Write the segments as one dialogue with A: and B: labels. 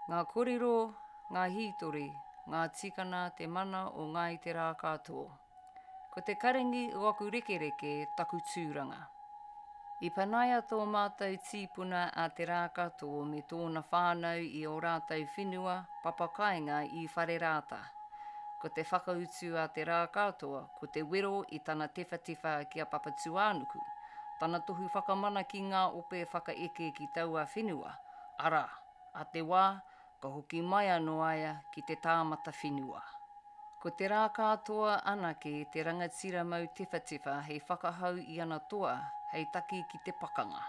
A: Ngā kōrero, ngā hītori, ngā tikana te mana o Ngāi Te Rākātō. Ko te karengi o aku rekereke taku tūranga. I panaia tō mātou tīpuna a Te Rākatō me tōna whānau i ō rātou whenua papakāinga i Wharerāta. Ko te whakautu a Te Rākatō ko te wero i tana tewhatewha ki a Papatūānuku, tana tohu whakamana ki ngā ope whakaeke ki taua whenua, arā, a Te Wā, Ka hoki mai anō a ia ki te tāmata whenua. Ko te rā kātoa anake te rangatira mau tewhatewha hei whakahau i ana toa hei taki ki te pakanga.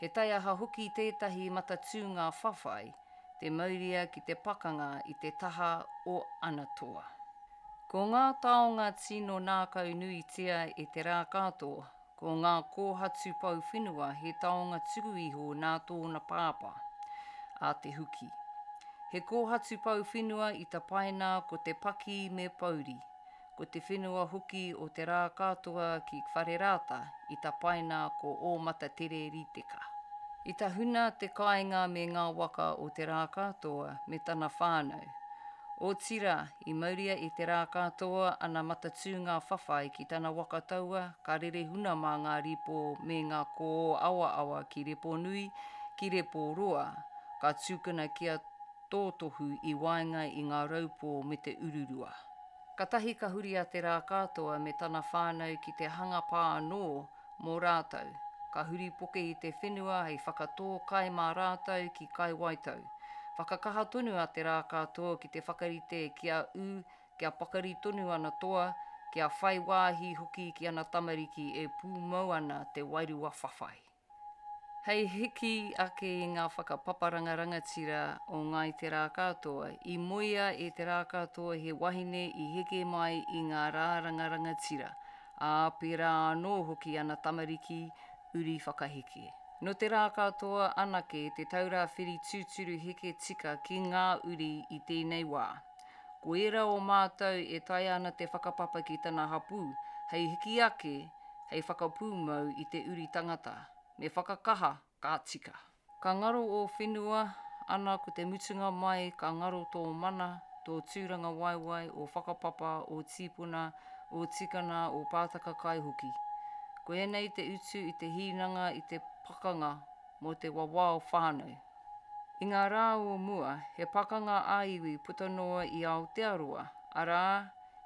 A: He taiaha hoki tētahi matatūnga whawhai te mauria ki te pakanga i te taha o ana toa. Ko ngā taonga tino nākau nuitia e te rā kātoa Ko ngā kōhatu pou whenua he taonga tuku iho nā tōna pāpā, a Te Huki. He kōhatu pou whenua i tapaina ko Te Paki me Pouri, ko te whenua hoki o te rā katoa ki Wharerāta i tapaina ko Ōmatatere Riteka. I tahuna te kāinga me ngā waka o te rā katoa me tana whānau, otirā I mauria i te rā ka toa ana matatū ngā whawhai ki tana waka taua ka rere huna mā ngā rīpō me ngā kōō awaawa ki Reponui, ki Reporoa, ka tūkana kia tōtohu i waenga i ngā raupō me te ururua. Katahi ka huri a te rā ka toa me tana whānau ki te hanga pā anō mō rātou, ka huri poke i te whenua hei whakatō kai mā rātou ki Kai Waitau. Whakakaha tonu a Te Rākātō ki te whakarite ki a ū kia pakari tonu ana toa, kia whai wāhi hoki ki ana tamariki e pūmau ana te wairua whawhai. Hei hiki ake i ngā whakapaparanga rangatira o Ngāi Te Rākātoa, i moea e Te Rākātō he wahine i heke mai i ngā rāranga rangatira, Ā, pērā anō hoki ana tamariki uri whakaheke. Nō te rā katoa anake te taura whiri tūturu heke tika ki ngā uri i tēnei wā. Ko ērā o mātou e taea ana te whakapapa ki tana hapū hei hiki ake hei whakapūmau i te uri tangata, me whakakaha ka tika. Ka ngaro ō whenua, ana ko te mutunga mai ka ngaro tō mana, tō tūrangawaewae, ō whakapapa, ō tīpuna, ō tikana, ō pātaka kai hoki. Ko ēnei te utu i te hīnanga i te pakanga mō te wawao whānau. I ngā rā o mua, he pakanga ā-iwi puta noa i Aotearoa, arā,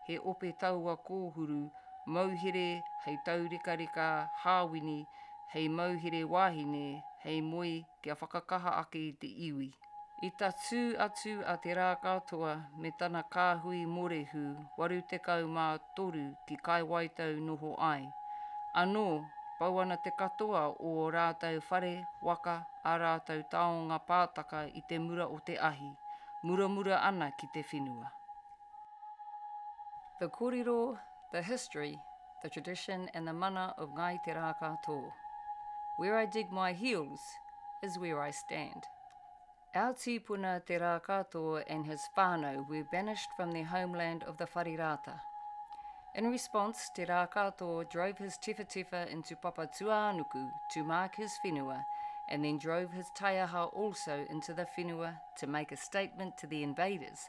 A: he ope taua kōhuru mauhere hei taurekareka hāwini, hei mauhere wāhine, hei moe kia whakakaha ake i te iwi. I tatū atu a Te Rākatoa me tana kāhui morehu 83 ki Kaiwaitau noho ai. Anō, pau ana te katoa o ō rātou whare, waka, ā rātou taonga pātaka i te mura o te ahi, muramura ana ki te whenua. The korero, the history, the tradition and the mana of Ngāi Te Rākātō Where I dig my heels is where I stand Our tīpuna Te Rākātō and his whānau were banished from their homeland of the Whare Rāta. In response, Te Rākātō drove his tewhatewha into Papatūānuku to mark his whenua and then drove his taiaha also into the whenua to make a statement to the invaders